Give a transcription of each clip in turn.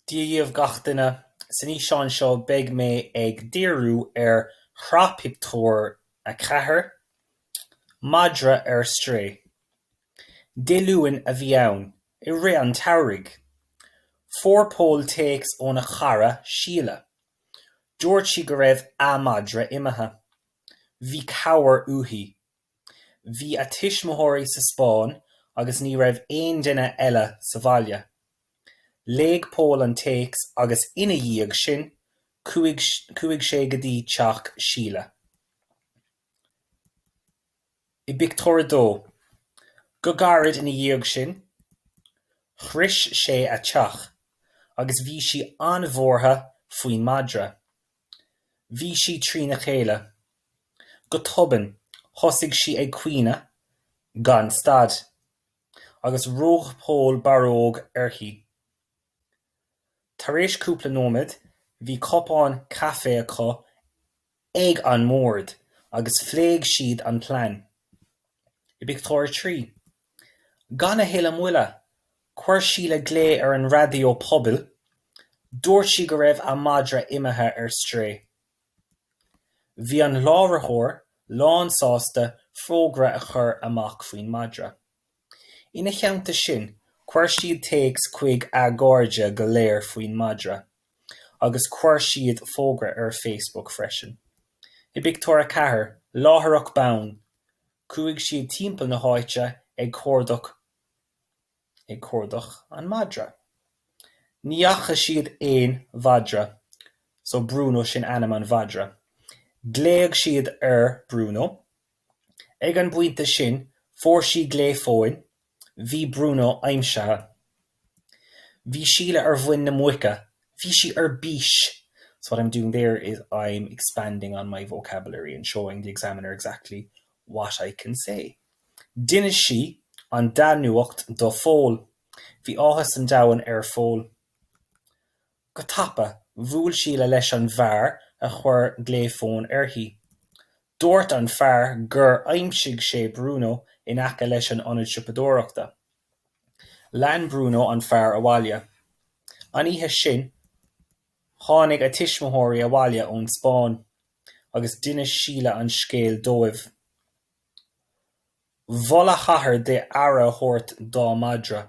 Dia dhíobh gach duine. San fhíseán seo beidh mé ag díriú ar shraith pictiúr 4, Madra ar Strae. Dé Luain a bhí ann, i rith an tsamhraidh. Fuair Pól téacs óna chara, Síle. Dúirt sí go raibh a madra imithe. Bhí cabhair uaithi. Bhí a tuismitheoirí sa Spáinn agus ní raibh aon duine eile sa bhaile. Léigh Pól an téacs agus ina dhiaidh sin chuaigh sé go dtí teach Shíle. I bpictiúr a dó. Go gairid ina dhiaidh sin, shrois sé a teach agus bhí sí an-bhuartha faoin madra. Bhí sí trína chéile. Go tobann thosaigh sí ag caoineadh gan stad, agus rug Pól barróg uirthi. Tar éis cúpla nóiméad bhí cupán caife acu ag an mbord agus phléigh siad an plean. I bpictiúr a trí. Gan a thuilleadh moille, chuir Síle glao ar an raidió pobail. Dúirt sí go raibh a madra imithe ar strae. Bhí an láithreoir lánsásta fógra a chur amach faoin madra. Ina theannta sin, chuir siad téacs chuig a gcairde go léir faoin madra, agus chuir siad fógra ar Facebook freisin. I bpictiúr a ceathair, láithreach bonn, Chuaigh siad timpeall na háite ag cuardach, ag cuardach an madra. Ní fhaca siad aon mhadra, so Bruno sin ainm an mhadra. Ghlaogh siad ar Bruno. Ag an bpointe sin fuair sí glao fóin Bhí Bruno aimsithe. Bhí Síle ar mhuin na muice. Bhí sí ar bís. So what I'm doing there is I'm expanding on my vocabulary and showing the examiner exactly what I can say. D'inis sí an dea-nuacht do Phól. Bhí áthas an domhain ar Phól. Go tapa, bhuail Síle leis an bhfear a chuir glao fóin uirthi. Dúirt an fear gur aimsigh sé Bruno in aice leis an ionad siopadóireachta. Lean Bruno an fear abhaile. An oíche sin, tháinig a tuismitheoirí abhaile ón Spáinn agus d'inis Síle an scéal dóibh. Mhol a hathair di aire a thabhairt dá madra.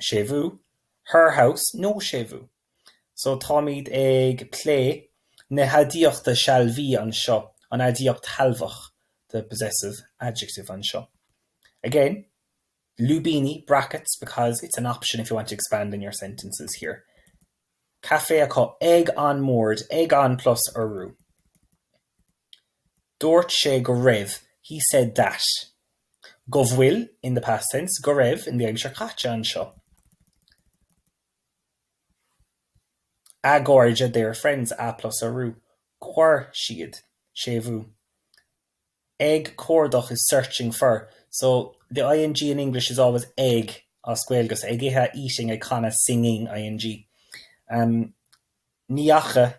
séimhiú, her house, no séimhiú. So táimid ag plé na haidiachta sealbhaí anseo, an aidiacht shealbhach, the possessive adjective anseo. Again, lúibíní, brackets, because it's an option if you want to expand in your sentences here. Caife acu ag an mbord, ag an plus urú. Dúirt sé go raibh, he said that. go bhfuil, in the past tense, go raibh, in the aimsir chaite, anseo, a gcairde, their friends, a plus urú, chuir siad, séimhiú, ag cuardach is searching for, so, the ing in English is always ag as Gaeilge, so, ag ithe eating ag canadh singing, ing. Ní fhaca,